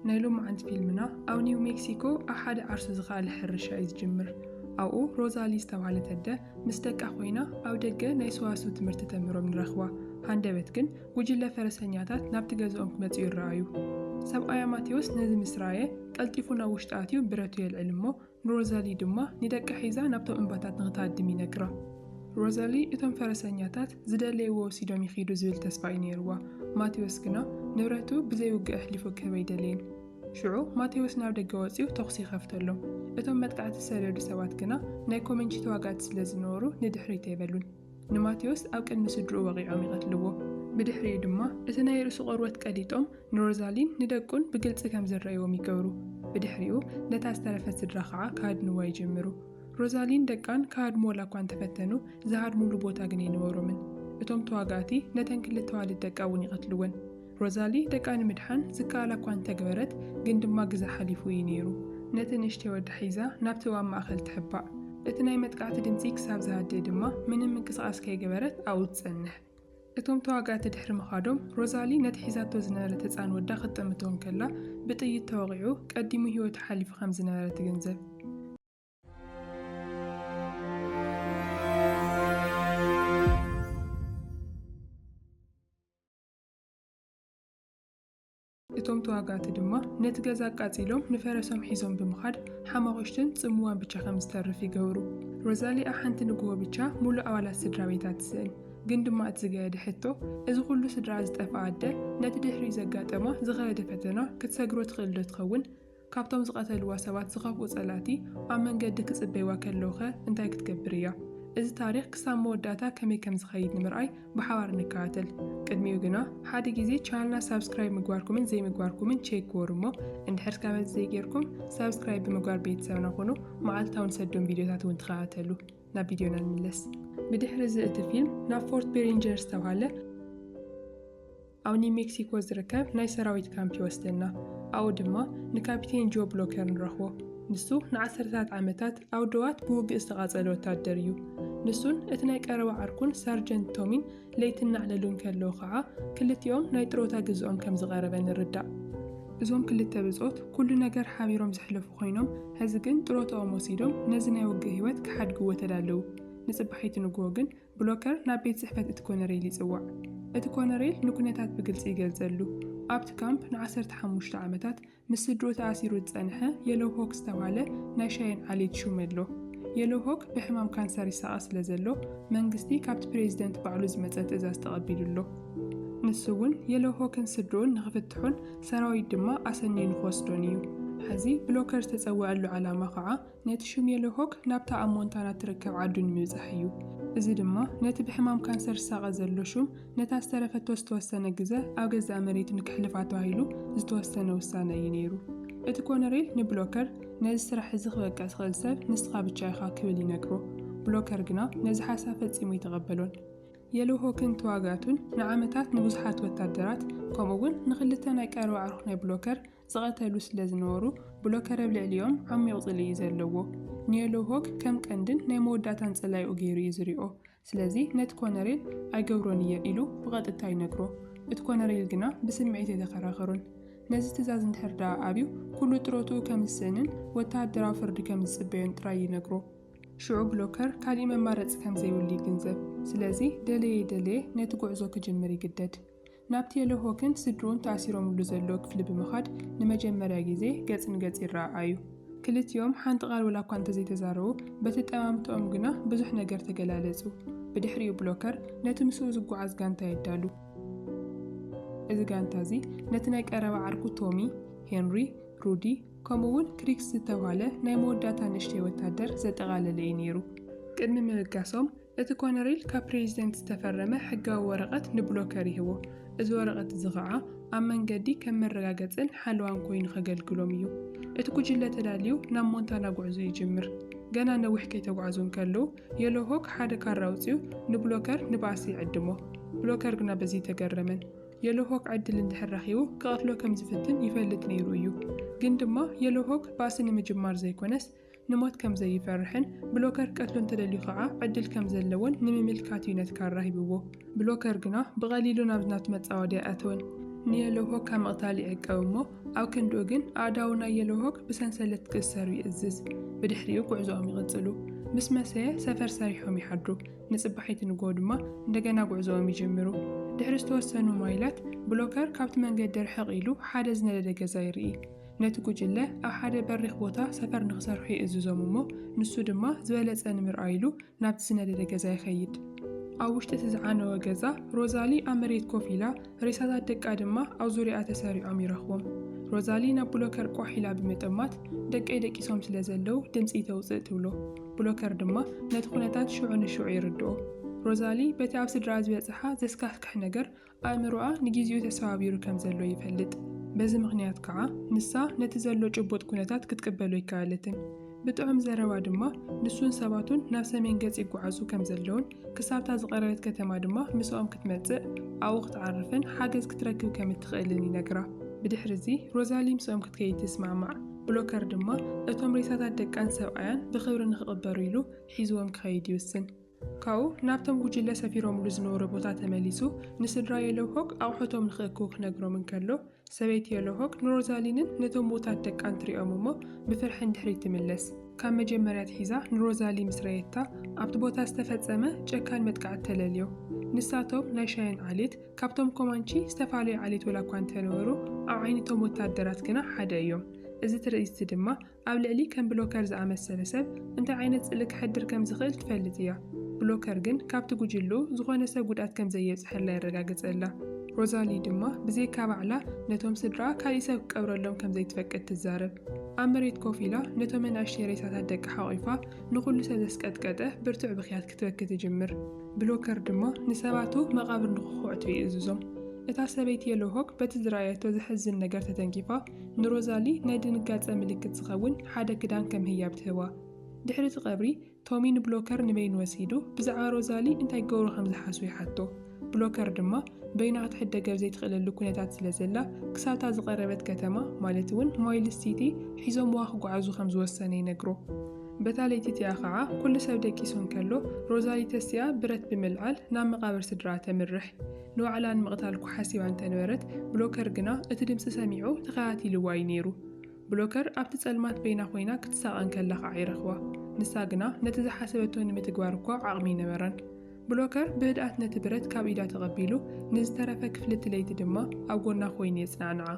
ናይ ሎማዓንቲ ፊልምና ኣብ ኒው ሜክሲኮ ኣብ ሓደ ዓርሱ ዝኸኣለ ሕርሻ እዩ ዝጅምር። ኣብኡ ሮዛሊ ዝተባህለት ኣደ ምስ ደቃ ኮይና ኣብ ደገ ናይ ሰዋስው ትምህርቲ ተምህሮም ንረኽባ። ሃንደበት ግን ጉጅለ ፈረሰኛታት ናብቲ ገዝኦም ክመጽኡ ይረኣዩ። ሰብኣያ ማቴዎስ ነዚ ምስ ረኣየ ቀልጢፉ ናብ ውሽጢ ኣትዩ ብረቱ የልዕል እሞ ንሮዛሊ ድማ ንደቃ ሒዛ ናብቶም እምባታት ንኽትሃድም ይነግራ። ሮዛሊ እቶም ፈረሰኛታት ዝደለይዎ ወሲዶም ይኺዱ ዝብል ተስፋ እዩ ነይርዋ። ማቴዎስ ግና ንብረቱ ብዘይ ውግእ ኣሕሊፉ ክህብ ኣይደለየን። ሽዑ ማቴዎስ ናብ ደገ ወጺኡ ተኹሲ ይኸፍተሎም። እቶም መጥቃዕቲ ዝሰደዱ ሰባት ግና ናይ ኮመንቺ ተዋጋእቲ ስለ ዝነበሩ ንድሕሪት ኣይበሉን። ንማቴዎስ ኣብ ቅድሚ ስድርኡ ወቒዖም ይቐትልዎ። ብድሕሪኡ ድማ እቲ ናይ ርእሱ ቆርበት ቀዲጦም ንሮዛሊን ንደቁን ብግልጺ ከም ዝረእዎም ይገብሩ። ብድሕሪኡ ነታ ዝተረፈት ስድራ ኸኣ ክሃድንዋ ይጅምሩ። ሮዛሊን ደቃን ክሃድምወላ እኳ እንተፈተኑ ዝሃድሙሉ ቦታ ግን ኣይነበሮምን። እቶም ተዋጋእቲ ነተን ክልተ ኣዋልድ ደቃ እውን ይቐትልወን። ሮዛሊ ደቃ ንምድሓን ዝከኣላ እኳ እንተ ገበረት፣ ግን ድማ ግዘ ሓሊፉ እዩ ነይሩ። ነቲ ንእሽተይ ወዳ ሒዛ ናብቲ ኣብ ማእከል ትሕባእ። እቲ ናይ መጥቃዕቲ ድምጺ ክሳብ ዝሃድእ ድማ ምንም ምንቅስቓስ ከይገበረት ኣብኡ ትጸንሕ። እቶም ተዋጋእቲ ድሕሪ ምኻዶም፣ ሮዛሊ ነቲ ሒዛቶ ዝነበረት ህጻን ወዳ ክትጥምቶ እንከላ ብጥይት ተወቒዑ ቀዲሙ ህይወቱ ሓሊፉ ከም ዝነበረ ትግንዘብ። እቶም ተዋጋእቲ ድማ ነቲ ገዛ ኣቃጺሎም ንፈረሶም ሒዞም ብምኻድ ሓማቑሽትን ጽምዋን ብቻ ከም ዝተርፍ ይገብሩ። ሮዛሊኣ ሓንቲ ንግሆ ብቻ ሙሉእ ኣባላት ስድራቤታ ትስእን። ግን ድማ እቲ ዝገደደ ሕቶ እዚ ኩሉ ስድራኣ ዝጠፍኣ ኣደ ነቲ ድሕሪኡ ዘጋጠማ ዝኸበደ ፈተና ክትሰግሮ ትኽእልዶ ትኸውን? ካብቶም ዝቐተልዋ ሰባት ዝኸፍኡ ጸላእቲ ኣብ መንገዲ ክጽበይዋ ከለዉኸ እንታይ ክትገብር እያ? እዚ ታሪኽ ክሳብ መወዳእታ ከመይ ከም ዝኸይድ ንምርኣይ ብሓባር ንከታተል። ቅድሚኡ ግና ሓደ ግዜ ቻነልና ሳብስክራይብ ምግባርኩምን ዘይምግባርኩምን ቼክ ግበሩ እሞ እንድሕር ከመዚ ዘይጌርኩም ሳብስክራይብ ብምግባር ቤተሰብና ኩኑ መዓልታዊ ንሰዶም ቪድዮታት እውን ተኸታተሉ። ናብ ቪድዮና ንምለስ። ብድሕሪ እዚ እቲ ፊልም ናብ ፎርት ቤሪንጀር ዝተብሃለ ኣብ ኒው ሜክሲኮ ዝርከብ ናይ ሰራዊት ካምፕ ይወስደና። ኣብኡ ድማ ንካፒቴን ጆ ብሎከር ንረኽቦ። ንሱ ንዓሰርተታት ዓመታት ኣብ ደዋት ብውግእ ዝተቓጸለ ወታደር እዩ። ንሱን እቲ ናይ ቀረባ ዓርኩን ሳርጀንት ቶሚን ለይቲ እናዕለሉ እንከለዉ ኸኣ ክልቲኦም ናይ ጥሮታ ግዝኦም ከም ዝቐረበ ንርዳእ። እዞም ክልተ ብጾት ኩሉ ነገር ሓቢሮም ዘሕለፉ ኰይኖም፣ ሕዚ ግን ጥሮታኦም ወሲዶም ነዚ ናይ ውግእ ህይወት ክሓድግዎ ተዳለዉ። ንጽባሒቱ ንግሆ ግን ብሎከር ናብ ቤት ጽሕፈት እቲ ኮነሬል ይጽዋዕ። እቲ ኮነሬል ንኩነታት ብግልጺ ይገልጸሉ። ኣብቲ ካምፕ ንዓሰርተ ሓሙሽተ ዓመታት ምስ ስድርኡ ተኣሲሩ ዝጸንሐ የሎው ሆክ ዝተባህለ ናይ ሻየን ዓሌት ሹም ኣሎ። የሎው ሆክ ብሕማም ካንሰር ይሳቐ ስለዘሎ መንግስቲ ካብቲ ፕሬዚደንት ባዕሉ ዝመጸ ትእዛዝ ተቐቢሉ ኣሎ። ንሱ እውን የሎው ሆክን ስድርኡን ንክፍትሑን ሰራዊት ድማ ኣሰንዩ ንክወስዶን እዩ። ሕዚ ብሎከር ዝተጸወዐሉ ዓላማ ከዓ ነቲ ሽሜሎሆክ ናብታ ኣብ ሞንታና እትርከብ ዓዱ ንምብጻሕ እዩ፣ እዚ ድማ ነቲ ብሕማም ካንሰር ዝሳቐ ዘሎ ሹም ነታ ዝተረፈቶ ዝተወሰነ ግዘ ኣብ ገዛእ መሬቱ ንከሕልፋ ተባሂሉ ዝተወሰነ ውሳነ እዩ ነይሩ። እቲ ኮነሬል ንብሎከር ነዚ ስራሕ እዚ ክበቅዕ ዝኽእል ሰብ ንስኻ ብቻ ኢኻ ክብል ይነግሮ፣ ብሎከር ግና ነዚ ሓሳብ ፈጺሙ ኣይተቐበሎን። የሎሆክን ተዋጋእቱን ንዓመታት ንብዙሓት ወታደራት ከምኡ'ውን ንኽልተ ናይ ቀረባ ኣዕሩኽ ናይ ብሎከር ዝቐተሉ ስለ ዝነበሩ፣ ብሎከር ኣብ ልዕሊኦም ዓሚቝ ጽልኢ እዩ ዘለዎ። ንየሎው ሆክ ከም ቀንድን ናይ መወዳእታን ጸላኢኡ ገይሩ እዩ ዝሪኦ። ስለዚ ነቲ ኮነሬል ኣይገብሮን እየ ኢሉ ብቐጥታ ይነግሮ። እቲ ኮነሬል ግና ብስምዒት ኣይተኸራኸሮን። ነዚ ትእዛዝ እንድሕር ደኣ ኣብዩ ኩሉ ጥሮትኡ ከም ዝስእንን ወተሃደራዊ ፍርዲ ከም ዝጽበዮን ጥራይ ይነግሮ። ሽዑ ብሎከር ካልእ መማረጺ ከም ዘይብሉ ይግንዘብ። ስለዚ ደለየ ደለየ ነቲ ጉዕዞ ክጅምር ይግደድ። ናብ ቴለሆክን ስድርኡን ተኣሲሮምሉ ዘሎ ክፍሊ ብምኻድ ንመጀመርያ ግዜ ገጽ ንገጽ ይረኣኣዩ። ክልቲኦም ሓንቲ ቃል ወላ እኳ እንተዘይተዛረቡ፣ በቲ ኣጠማምታኦም ግና ብዙሕ ነገር ተገላለጹ። ብድሕሪኡ ብሎከር ነቲ ምስኡ ዝጓዓዝ ጋንታ የዳሉ። እዚ ጋንታ እዚ ነቲ ናይ ቀረባ ዓርኩ ቶሚ፣ ሄንሪ፣ ሩዲ፣ ከምኡ'ውን ክሪክስ ዝተብሃለ ናይ መወዳእታ ንእሽተይ ወታደር ዘጠቓለለ እዩ ነይሩ። ቅድሚ ምብጋሶም እቲ ኮነሬል ካብ ፕሬዚደንት ዝተፈረመ ሕጋዊ ወረቐት ንብሎከር ይህቦ። እዚ ወረቐት እዚ ኸዓ ኣብ መንገዲ ከም መረጋገፅን ሓለዋን ኮይኑ ከገልግሎም እዩ። እቲ ጉጅለ ተዳልዩ ናብ ሞንታና ጉዕዞ ይጅምር። ገና ነዊሕ ከይተጓዕዙ እንከለዉ የሎሆክ ሓደ ካራ ኣውፂኡ ንብሎከር ንባእሲ ይዕድሞ። ብሎከር ግና በዚ ኣይተገረመን። የሎሆክ ዕድል እንድሕር ረኺቡ ክቐትሎ ከም ዝፍትን ይፈልጥ ነይሩ እዩ። ግን ድማ የሎሆክ ባእሲ ንምጅማር ዘይኮነስ ንሞት ከም ዘይፈርሕን ብሎከር ቀትሉ እንተደልዩ ከኣ ዕድል ከም ዘለዎን ንምምልካት እዩ ነቲ ካራ ሂብዎ። ብሎከር ግና ብቐሊሉ ናብዚ ናቱ መጻወድያ ኣይኣተወን። ንየሎውሆክ ካብ ምቕታል ይዕቀብ እሞ ኣብ ክንድኡ ግን ኣእዳዉ ናይ የሎውሆክ ብሰንሰለት ክእሰሩ ይእዝዝ። ብድሕሪኡ ጉዕዞኦም ይቕጽሉ። ምስ መሰየ ሰፈር ሰሪሖም ይሓድሩ። ንጽባሒቲ ንግሆ ድማ እንደገና ጉዕዞኦም ይጅምሩ። ድሕሪ ዝተወሰኑ ማይላት ብሎከር ካብቲ መንገዲ ርሕቕ ኢሉ ሓደ ዝነደደ ገዛ ይርኢ። ነቲ ጉጅለ ኣብ ሓደ በሪኽ ቦታ ሰፈር ንኽሰርሑ ይእዝዞም እሞ ንሱ ድማ ዝበለጸ ንምርኣይ ኢሉ ናብቲ ዝነደደ ገዛ ይኸይድ። ኣብ ውሽጢ እቲ ዝዓነወ ገዛ ሮዛሊ ኣብ መሬት ኮፍ ኢላ፣ ሬሳታት ደቃ ድማ ኣብ ዙርያኣ ተሰሪዖም ይረኽቦም። ሮዛሊ ናብ ብሎከር ቋሕ ኢላ ብምጥማት ደቀይ ደቂሶም ስለ ዘለው ድምፂ ተውፅእ ትብሎ። ብሎከር ድማ ነቲ ኩነታት ሽዑ ንሽዑ ይርድኦ። ሮዛሊ በቲ ኣብ ስድራኣ ዝበፅሓ ዘስካሕክሕ ነገር ኣእምሮኣ ንጊዜኡ ተሰባቢሩ ከም ዘሎ ይፈልጥ። በዚ ምኽንያት ከኣ ንሳ ነቲ ዘሎ ጭቡጥ ኩነታት ክትቅበሎ ኣይከኣለትን። ብጥዑም ዘረባ ድማ ንሱን ሰባቱን ናብ ሰሜን ገጽ ይጓዓዙ ከም ዘለዉን ክሳብ'ታ ዝቐረበት ከተማ ድማ ምሳኦም ክትመጽእ፣ ኣብኡ ክትዓርፍን ሓገዝ ክትረክብ ከም እትኽእልን ይነግራ። ብድሕር'ዚ ሮዛሊ ምስኦም ክትከይድ ትስማዕማዕ። ብሎከር ድማ እቶም ሬሳታት ደቃን ሰብኣያን ብኽብሪ ንኽቕበሩ ኢሉ ሒዝዎም ክኸይድ ይውስን። ካብኡ ናብቶም ጉጅለ ሰፊሮምሉ ዝነበሩ ቦታ ተመሊሱ ንስድራ የሎሆግ ኣቑሑቶም ንኽእክቡ ክነግሮም እንከሎ፣ ሰበይቲ የሎሆግ ንሮዛሊንን ነቶም ምዉታት ደቃን ትሪኦም እሞ ብፍርሒ ንድሕሪት ትምለስ። ካብ መጀመርያ ኣትሒዛ ንሮዛሊ ምስ ረኣየታ፣ ኣብቲ ቦታ ዝተፈጸመ ጨካን መጥቃዕቲ ተለልዮ። ንሳቶም ናይ ሻየን ዓሌት ካብቶም ኮማንቺ ዝተፋለዩ ዓሌት ወላኳ እንተነበሩ፣ ኣብ ዓይኒቶም ወተሃደራት ግና ሓደ እዮም። እዚ ትርኢት'ዚ ድማ ኣብ ልዕሊ ከም ብሎከር ዝኣመሰለ ሰብ እንታይ ዓይነት ጽልኢ ከሕድር ከም ዝኽእል ትፈልጥ እያ። ብሎከር ግን ካብቲ ጕጅለኡ ዝዀነ ሰብ ጕድኣት ከም ዘየብጽሐላ የረጋግጸላ። ሮዛሊ ድማ ብዘይካ ባዕላ ነቶም ስድራኣ ካልእ ሰብ ክቀብረሎም ከም ዘይትፈቅድ ትዛረብ። ኣብ መሬት ኮፍ ኢላ ነቶም ኣናእሽተይ ሬሳታት ደቃ ሓቝፋ ንዅሉ ሰብ ዘስቀጥቀጠ ብርቱዕ ብኽያት ክትበኪ ትጅምር። ብሎከር ድማ ንሰባቱ መቓብር ንኽዅዕቱ ይእዝዞም። እታ ሰበይቲ የሎሆክ በቲ ዝረኣየቶ ዘሕዝን ነገር ተተንኪፋ ንሮዛሊ ናይ ድንጋጸ ምልክት ዝኸውን ሓደ ክዳን ከም ህያብ ትህባ። ድሕሪ እቲ ቀብሪ፣ ቶሚ ንብሎከር ንበይኑ ወሲዱ ብዛዕባ ሮዛሊ እንታይ ክገብሩ ከም ዝሓስቡ ይሓቶ። ብሎከር ድማ በይና ክትሕደገብ ዘይትኽእለሉ ኩነታት ስለ ዘላ ክሳብታ ዝቐረበት ከተማ ማለት እውን ማይልስ ሲቲ ሒዞምዋ ክጓዓዙ ከም ዝወሰነ ይነግሮ። በታ ለይቲ እቲኣ ኸዓ ኩሉ ሰብ ደቂሱ እንከሎ ሮዛሊ ተሲኣ ብረት ብምልዓል ናብ መቓብር ስድራኣ ተምርሕ። ንባዕላ ንምቕታል እኳ ሓሲባ እንተ ነበረት፣ ብሎከር ግና እቲ ድምጺ ሰሚዑ ተኸታቲልዋ እዩ ነይሩ። ብሎከር ኣብቲ ጸልማት በይና ዀይና ክትሳቐ እንከላ ኸኣ እዩ ረኺባ። ንሳ ግና ነቲ ዝሓሰበቶ ንምትግባር እኳ ዓቕሚ ኣይነበራን። ብሎከር ብህድኣት ነቲ ብረት ካብ ኢዳ ተቐቢሉ፣ ንዝተረፈ ክፍሊ እቲ ለይቲ ድማ ኣብ ጐና ዀይኑ የጽናዕንዓ።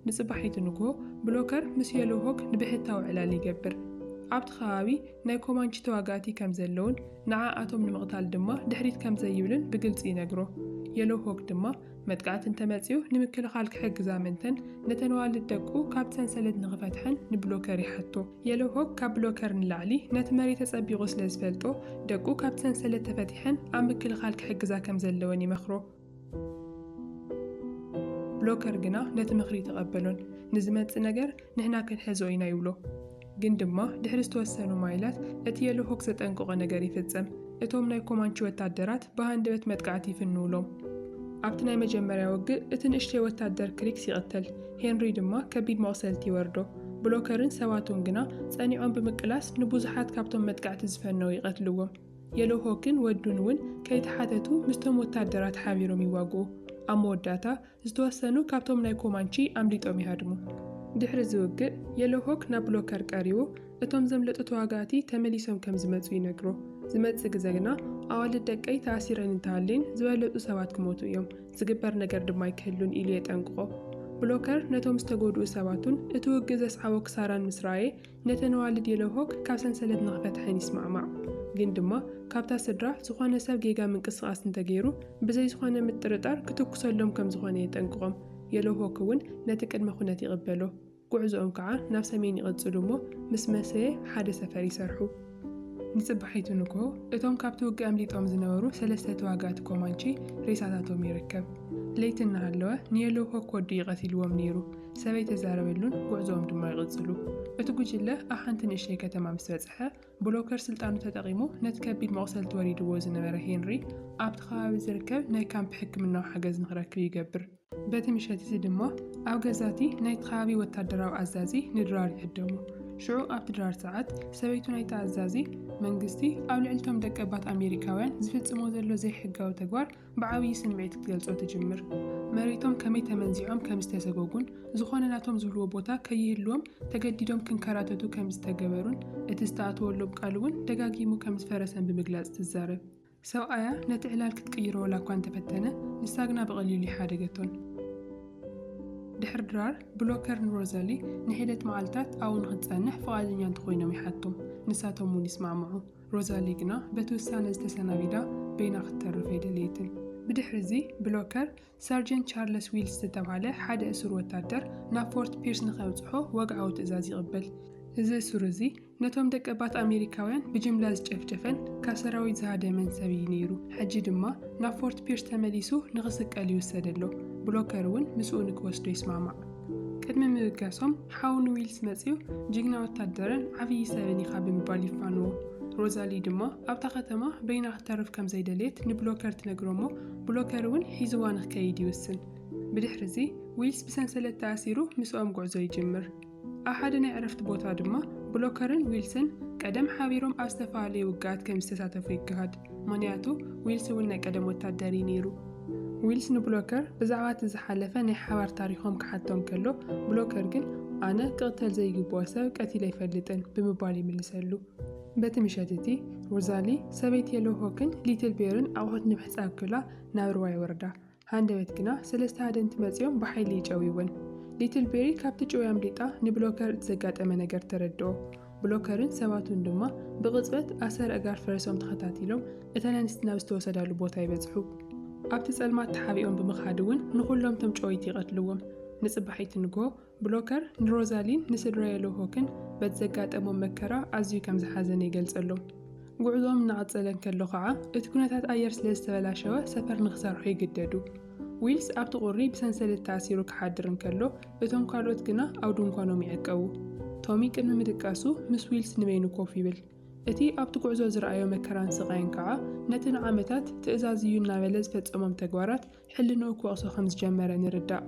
ንጽባሒቱ ንግሆ፣ ብሎከር ምስ የሎው ሆግ ንብሕታዊ ዕላል ይገብር። ኣብቲ ከባቢ ናይ ኮማንቺ ተዋጋእቲ ከም ዘለዉን ንዓኣቶም ንምቕታል ድማ ድሕሪት ከም ዘይብልን ብግልጺ ይነግሮ። የሎው ሆግ ድማ፣ መጥቃዕቲ እንተ መጺኡ ንምክልኻል ክሕግዝ ኣመንተን ነተን ኣዋልድ ደቁ ካብቲ ሰንሰለት ንኽፈትሐን ንብሎከር ይሓቶ። የሎው ሆግ ካብ ብሎከር ንላዕሊ ነቲ መሪት ኣጸቢቑ ስለ ዝፈልጦ፣ ደቁ ካብቲ ሰንሰለት ተፈቲሐን ኣብ ምክልኻል ክሕግዛ ከም ዘለወን ይመኽሮ። ብሎከር ግና ነቲ ምኽሪ ኣይተቐበሎን። ንዝመጽእ ነገር ንሕና ክንሕዞ ኢና ይብሎ። ግን ድማ ድሕሪ ዝተወሰኑ ማይላት እቲ የሎሆክ ዘጠንቀቖ ነገር ይፍጸም። እቶም ናይ ኮማንቺ ወታደራት ብሃንደበት መጥቃዕቲ ይፍንዉሎም። ኣብቲ ናይ መጀመርያ ውግእ እቲ ንእሽተይ ወታደር ክሪክስ ይቕተል፣ ሄንሪ ድማ ከቢድ መቕሰልቲ ይወርዶ። ብሎከርን ሰባቱን ግና ጸኒዖም ብምቅላስ ንብዙሓት ካብቶም መጥቃዕቲ ዝፈነዉ ይቐትልዎም። የሎሆክን ወዱን'ውን ከይተሓተቱ ምስቶም ወተሃደራት ሓቢሮም ይዋግኡ። ኣብ መወዳእታ፣ ዝተወሰኑ ካብቶም ናይ ኮማንቺ ኣምሊጦም ይሃድሙ። ድሕሪ'ዚ ውግእ፣ የሎሆክ ናብ ብሎከር ቀሪቡ እቶም ዘምለጡ ተዋጋእቲ ተመሊሶም ከም ዝመጹ ይነግሮ። ዝመጽእ ግዘ ግና፣ ኣዋልድ ደቀይ ተኣሲረን እንተሃልየን ዝበለጹ ሰባት ክሞቱ እዮም፣ ዝግበር ነገር ድማ ኣይክህሉን ኢሉ የጠንቅቖ። ብሎከር ነቶም ዝተጎድኡ ሰባቱን እቲ ውግእ ዘስዓቦ ክሳራን ምስ ረኣየ፣ ነተን ኣዋልድ የለሆክ ካብ ሰንሰለት ንኽፈትሐን ይስማዕማዕ። ግን ድማ ካብታ ስድራ ዝኾነ ሰብ ጌጋ ምንቅስቓስ እንተገይሩ ብዘይ ዝኾነ ምጥርጣር ክትኩሰሎም ከም ዝኾነ የጠንቅቖም። የለሆክ እውን ነቲ ቅድመ ኩነት ይቕበሎ። ጉዕዞኦም ከዓ ናብ ሰሜን ይቕጽሉ እሞ ምስ መሰየ ሓደ ሰፈር ይሰርሑ። ንጽባሒቱ ንግሆ እቶም ካብቲ ውግእ ኣምሊጦም ዝነበሩ ሰለስተ ተዋጋእቲ ኮማንቺ ሬሳታቶም ይርከብ። ለይቲ እናሃለወ ንየለሆክ ወዱ እዩ ቀቲልዎም ነይሩ። ሰበይ ተዛረበሉን ጉዕዞኦም ድማ ይቕጽሉ። እቲ ጉጅለ ኣብ ሓንቲ ንእሽተይ ከተማ ምስ በጽሐ፣ ብሎከር ስልጣኑ ተጠቒሙ ነቲ ከቢድ መቑሰልቲ ወሪድዎ ዝነበረ ሄንሪ ኣብቲ ከባቢ ዝርከብ ናይ ካምፕ ሕክምናዊ ሓገዝ ንኽረክብ ይገብር። በቲ ምሸት እዚ ድማ ኣብ ገዛ እቲ ናይቲ ከባቢ ወታደራዊ ኣዛዚ ንድራር ይዕደሙ። ሽዑ ኣብቲ ድራር ሰዓት፣ ሰበይቱ ናይቲ ኣዛዚ፣ መንግስቲ ኣብ ልዕሊ እቶም ደቀባት ኣሜሪካውያን ዝፍጽሞ ዘሎ ዘይሕጋዊ ተግባር ብዓብዪ ስምዒት ክትገልጾ ትጅምር። መሬቶም ከመይ ተመንዚዖም ከም ዝተሰጎጉን ዝኾነ ናቶም ዝብልዎ ቦታ ከይህልዎም ተገዲዶም ክንከራተቱ ከም ዝተገበሩን እቲ ዝተኣተወሎም ቃል እውን ደጋጊሙ ከም ዝፈረሰን ብምግላጽ ትዛረብ። ሰብኣያ ነቲ ዕላል ክትቅይሮ ዋላ እኳ እንተፈተነ ንሳ ግና ብቐሊሉ ኣይሓደገቶን። ድሕሪ ድራር፣ ብሎከር ንሮዛሊ ንሒደት መዓልታት ኣብኡ ንኽትጸንሕ ፍቓደኛ እንተኾይኖም ይሓቶም፣ ንሳቶም እውን ይስማዕምዑ። ሮዛሊ ግና በቲ ውሳነ ዝተሰናቢዳ በይና ክትተርፍ ኣይደለየትን። ብድሕሪዚ፣ ብሎከር፣ ሰርጀንት ቻርለስ ዊልስ ዝተብሃለ ሓደ እሱር ወታደር ናብ ፎርት ፒርስ ንኼብጽሖ ወግዓዊ ትእዛዝ ይቕበል። እዚ እሱር እዚ፣ ነቶም ደቀባት ኣመሪካውያን ብጅምላ ዝጨፍጨፈን ካብ ሰራዊት ዝሃደመን ሰብ እዩ ነይሩ። ሕጂ ድማ ናብ ፎርት ፒርስ ተመሊሱ ንኽስቀል ይውሰድ ኣሎ። ብሎከር እውን ምስኡ ንኪወስዶ ይስማማዕ። ቅድሚ ምብጋሶም ሓው ንዊልስ መጺኡ ጅግና ወታደርን ዓብዪ ሰብን ኢኻ ብምባል ይፋንዎ። ሮዛሊ ድማ ኣብታ ከተማ በይና ክትተርፍ ከም ዘይደለየት ንብሎከር ትነግሮ እሞ ብሎከር እውን ሒዝዋ ንክከይድ ይውስን። ብድሕርዚ ዊልስ ብሰንሰለት ተኣሲሩ ምስኦም ጉዕዞ ይጅምር። ኣብ ሓደ ናይ ዕረፍቲ ቦታ ድማ ብሎከርን ዊልስን ቀደም ሓቢሮም ኣብ ዝተፈላለየ ውግኣት ከም ዝተሳተፉ ይገሃድ። ምኽንያቱ ዊልስ እውን ናይ ቀደም ወታደር እዩ ነይሩ። ዊልስ ንብሎከር ብዛዕባ እቲ ዝሓለፈ ናይ ሓባር ታሪኾም ክሓቶ እንከሎ፣ ብሎከር ግን ኣነ ክቕተል ዘይግብኦ ሰብ ቀቲለ ኣይፈልጥን ብምባል ይምልሰሉ። በቲ ምሸት እቲ፣ ሮዛሊ፣ ሰበይቲ የሎሆክን ሊትል ቤርን ኣቑሑት ንምሕጻብ ክብላ ናብ ሩባ ይወርዳ። ሃንደበት ግና ሰለስተ ሃደንቲ መጺኦም ብሓይሊ ይጨውይወን። ሊትል ቤሪ ካብቲ ጭውያ ኣምሊጣ ንብሎከር እቲ ዘጋጠመ ነገር ተረድኦ። ብሎከርን ሰባቱን ድማ ብቕጽበት ኣሰር ኣእጋር ፈረሶም ተኸታቲሎም እተን ኣንስቲ ናብ ዝተወሰዳሉ ቦታ ይበጽሑ። ኣብቲ ጸልማት ተሓቢኦም ብምኻድ እውን ንኹሎም እቶም ጨወይቲ ይቐትልዎም። ንጽባሒቲ ንግሆ ብሎከር ንሮዛሊን ንስድራ የሎሆክን በቲ ዘጋጠሞም መከራ ኣዝዩ ከም ዝሓዘነ ይገልጸሎም። ጕዕዞኦም እናቐጸለ እንከሎ ኸኣ እቲ ኵነታት ኣየር ስለ ዝተበላሸወ ሰፈር ንኽሰርሑ ይግደዱ። ዊልስ ኣብቲ ቍሪ ብሰንሰለት ተኣሲሩ ክሓድር እንከሎ፣ እቶም ካልኦት ግና ኣብ ድንኳኖም ይዕቀቡ። ቶሚ ቅድሚ ምድቃሱ ምስ ዊልስ ንበይኑ ኮፍ ይብል። እቲ ኣብቲ ጕዕዞ ዝረኣዮ መከራን ስቓይን ከኣ ነቲ ንዓመታት ትእዛዝ እዩ እናበለ ዝፈጸሞም ተግባራት ሕልንኡ ክወቕሶ ከም ዝጀመረ ንርዳእ።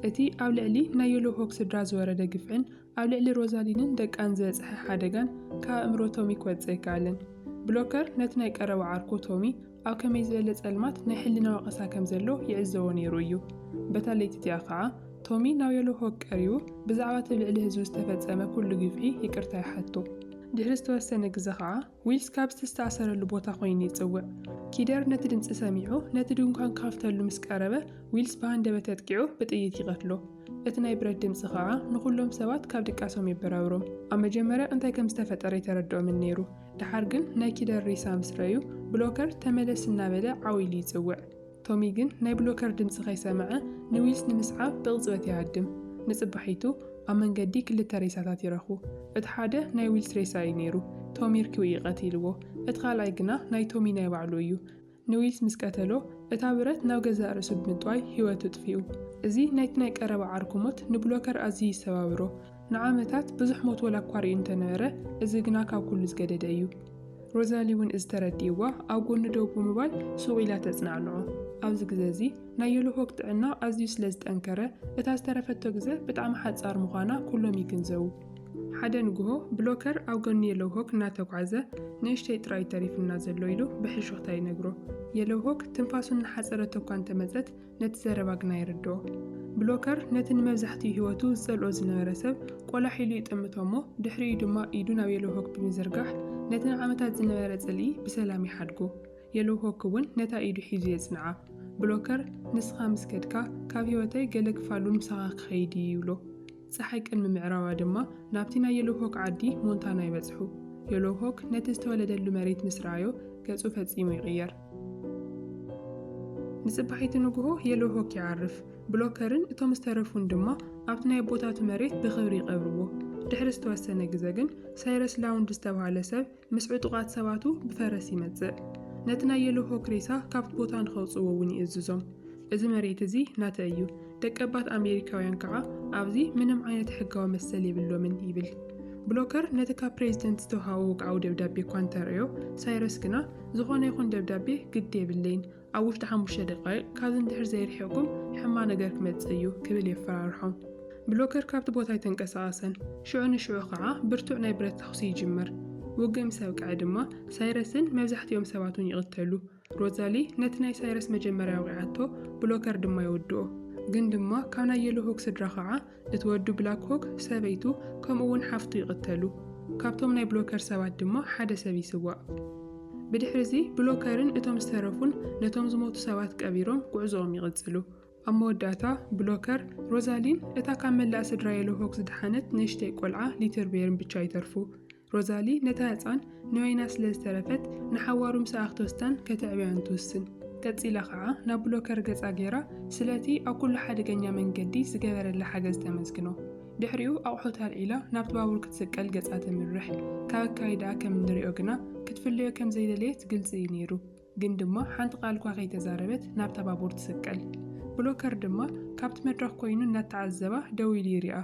እቲ ኣብ ልዕሊ ናይ የሎሆክ ስድራ ዝወረደ ግፍዕን ኣብ ልዕሊ ሮዛሊንን ደቃን ዝበጽሐ ሓደጋን ካብ ኣእምሮ ቶሚ ክወጽእ ኣይከኣለን። ብሎከር ነቲ ናይ ቀረባ ዓርኩ ቶሚ ኣብ ከመይ ዝበለ ጸልማት ናይ ሕልና ወቐሳ ከም ዘሎ ይዕዘቦ ነይሩ እዩ። በታ ለይቲ እቲኣ ኸኣ ቶሚ ናብ የሎሆክ ቀሪቡ ብዛዕባ እቲ ኣብ ልዕሊ ህዝቡ ዝተፈጸመ ኵሉ ግፍዒ ይቅርታ ይሓቶ። ድሕሪ ዝተወሰነ ግዘ ኸኣ ዊልስ ካብ ዝተስተኣሰረሉ ቦታ ዀይኑ ይጽውዕ። ኪደር ነቲ ድምጺ ሰሚዑ ነቲ ድንኳን ክኸፍተሉ ምስ ቀረበ፣ ዊልስ ብሃንደበት ኣጥቂዑ ብጥይት ይቐትሎ። እቲ ናይ ብረት ድምጺ ኸኣ ንዅሎም ሰባት ካብ ድቃሶም የበራብሮም። ኣብ መጀመርያ እንታይ ከም ዝተፈጠረ ኣይተረድኦምን ነይሩ። ደሓር ግን ናይ ኪደር ሬሳ ምስ ረኣዩ፣ ብሎከር ተመለስ እናበለ ዓው ኢሉ ይጽውዕ። ቶሚ ግን ናይ ብሎከር ድምጺ ከይሰምዐ ንዊልስ ንምስዓብ ብቕጽበት ይሃድም። ንጽባሒቱ ኣብ መንገዲ ክልተ ሬሳታት ይረኽቡ። እቲ ሓደ ናይ ዊልስ ሬሳ እዩ ነይሩ፣ ቶሚ ርኪቡ እዩ ቀቲልዎ። እቲ ካልኣይ ግና ናይ ቶሚ ናይ ባዕሉ እዩ። ንዊልስ ምስ ቀተሎ፣ እታ ብረት ናብ ገዛእ ርእሱ ብምጥዋይ ህይወቱ ኣጥፊኡ። እዚ ናይቲ ናይ ቀረባ ዓርኩ ሞት ንብሎከር ኣዝዩ ይሰባብሮ። ንዓመታት ብዙሕ ሞት ወላኳ ርእዩ እንተነበረ እዚ ግና ካብ ኩሉ ዝገደደ እዩ። ሮዛሊ እውን እዚ ተረዲእዋ ኣብ ጎኑ ደው ብምባል ሱቕ ኢላ ተጽናዕንዖ። ኣብዚ ግዘ እዚ ናይ የሎሆግ ጥዕና ኣዝዩ ስለ ዝጠንከረ እታ ዝተረፈቶ ግዘ ብጣዕሚ ሓጻር ምዃና ኩሎም ይግንዘቡ። ሓደ ንግሆ ብሎከር ኣብ ጎኒ የሎሆግ እናተጓዕዘ ንእሽተይ ጥራይ እዩ ተሪፉና ዘሎ ኢሉ ብሕሹኽታ ይነግሮ። የሎሆግ ትንፋሱ እናሓጸረቶ እኳ እንተመጸት ነቲ ዘረባ ግና ይርድኦ። ብሎከር ነቲ ንመብዛሕትኡ ህይወቱ ዝጸልኦ ዝነበረ ሰብ ቆላሕ ኢሉ ይጥምቶ እሞ ድሕሪኡ ድማ ኢዱ ናብ የሎውሆክ ብምዝርጋሕ ነቲ ንዓመታት ዝነበረ ጽልኢ ብሰላም ይሓድጎ። የሎውሆክ እውን ነታ ኢዱ ሒዙ የጽንዓ። ብሎከር ንስኻ ምስ ከድካ ካብ ህይወተይ ገለ ክፋሉ ምሳኻ ክኸይድ እዩ ይብሎ። ጸሓይ ቅድሚ ምዕራባ ድማ ናብቲ ናይ የሎውሆክ ዓዲ ሞንታና ይበጽሑ። የሎውሆክ ነቲ ዝተወለደሉ መሬት ምስ ረኣዮ ገጹ ፈጺሙ ይቕየር። ንጽባሒቲ ንግሆ የሎውሆክ ይዓርፍ፣ ብሎከርን እቶም ዝተረፉን ድማ ኣብቲ ናይ ኣቦታቱ መሬት ብኽብሪ ይቐብርዎ። ድሕሪ ዝተወሰነ ግዘ ግን ሳይረስ ላውንድ ዝተባህለ ሰብ ምስ ዕጡቓት ሰባቱ ብፈረስ ይመጽእ። ነቲ ናይ የሎሆክ ሬሳ ካብቲ ቦታ ንኸውጽእዎ እውን ይእዝዞም። እዚ መሬት እዚ ናተ እዩ፣ ደቀባት ኣሜሪካውያን ከኣ ኣብዚ ምንም ዓይነት ሕጋዊ መሰል የብሎምን ይብል። ብሎከር ነቲ ካብ ፕሬዚደንት ዝተውሃቦ ወግዓዊ ደብዳቤ እኳ እንተርእዮ፣ ሳይረስ ግና፣ ዝኾነ ይኹን ደብዳቤ ግዲ የብለይን፣ ኣብ ውሽጢ ሓሙሽተ ደቓይቕ ካብዚ ንድሕር ዘይርሒቕኩም ሕማ ነገር ክመጽእ እዩ ክብል የፈራርሖም። ብሎከር ካብቲ ቦታ ኣይተንቀሳቐሰን። ሽዑ ንሽዑ ኸዓ ብርቱዕ ናይ ብረት ተኹሲ ይጅምር። ውግእ ምስ ኣብቅዐ ድማ ሳይረስን መብዛሕቲኦም ሰባቱን ይቕተሉ። ሮዛሊ ነቲ ናይ ሳይረስ መጀመርያ ወቒዓቶ፣ ብሎከር ድማ ይውድኦ። ግን ድማ ካብ ናይ የሎሆግ ስድራ ኸዓ እቲ ወዱ ብላክ ሆክ ሰበይቱ ከምኡ እውን ሓፍቱ ይቕተሉ፣ ካብቶም ናይ ብሎከር ሰባት ድማ ሓደ ሰብ ይስዋእ። ብድሕሪ እዚ ብሎከርን እቶም ዝተረፉን ነቶም ዝሞቱ ሰባት ቀቢሮም ጉዕዞኦም ይቕጽሉ። ኣብ መወዳእታ ብሎከር፣ ሮዛሊን፣ እታ ካብ መላእ ስድራ የሎሆክ ዝደሓነት ንእሽተይ ቆልዓ ሊትርቤርን ብቻ ይተርፉ። ሮዛሊ ነታ ህጻን ንበይና ስለ ዝተረፈት ንሓዋሩ ምስኣ ክትወስዳን ከተዕብያን ትውስን። ቀጺላ ከኣ ናብ ብሎከር ገጻ ገይራ ስለቲ ኣብ ኩሉ ሓደገኛ መንገዲ ዝገበረላ ሓገዝ ተመስግኖ። ድሕሪኡ ኣቑሑት ኣልዒላ ናብቲ ባቡር ክትስቀል ገጻ ተምርሕ። ካብ ኣካይዳኣ ከም እንርእዮ ግና ክትፍለዮ ከም ዘይደለየት ግልጺ እዩ ነይሩ። ግን ድማ ሓንቲ ቃል'ኳ ከይተዛረበት ናብታ ባቡር ትስቀል። ብሎከር ድማ ካብቲ መድረኽ ኮይኑ እናተዓዘባ ደው ኢሉ ይሪኣ።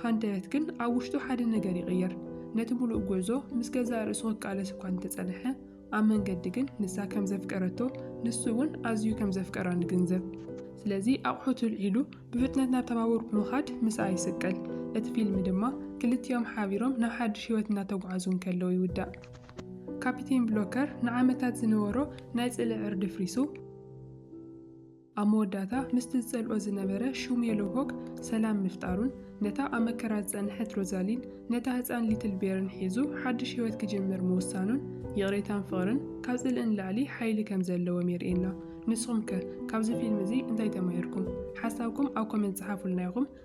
ሃንደበት ግን ኣብ ውሽጡ ሓደ ነገር ይቕየር። ነቲ ምሉእ ጉዕዞ ምስ ገዛእ ርእሱ ክቃለስ እኳ እንተጸንሐ፣ ኣብ መንገዲ ግን ንሳ ከም ዘፍቀረቶ ንሱ'ውን ኣዝዩ ከም ዘፍቀራ ንግንዘብ። ስለዚ ኣቑሑቱ ኣልዒሉ ብፍጥነት ናብታ ባቡር ብምኻድ ምስኣ ይስቀል። እቲ ፊልም ድማ ክልቲኦም ሓቢሮም ናብ ሓድሽ ህይወት እናተጓዕዙ እንከለዉ ይውዳእ። ካፒቴን ብሎከር ንዓመታት ዝነበሮ ናይ ጽልኢ ዕርዲ ፍሪሱ፣ ኣብ መወዳእታ ምስቲ ዝጸልኦ ዝነበረ ሹም የሎውሆክ ሰላም ምፍጣሩን፣ ነታ ኣብ መከራ ዝጸንሐት ሮዛሊን፣ ነታ ህጻን ሊትል ቤርን ሒዙ ሓድሽ ህይወት ክጅምር ምውሳኑን፣ ይቕሬታን ፍቕርን ካብ ጽልኢ ንላዕሊ ሓይሊ ከም ዘለዎም የርእየና። ንስኹም ከ ካብዚ ፊልም እዚ እንታይ ተማሂርኩም? ሓሳብኩም ኣብ ኮመንት ጽሓፉልና ኢኹም።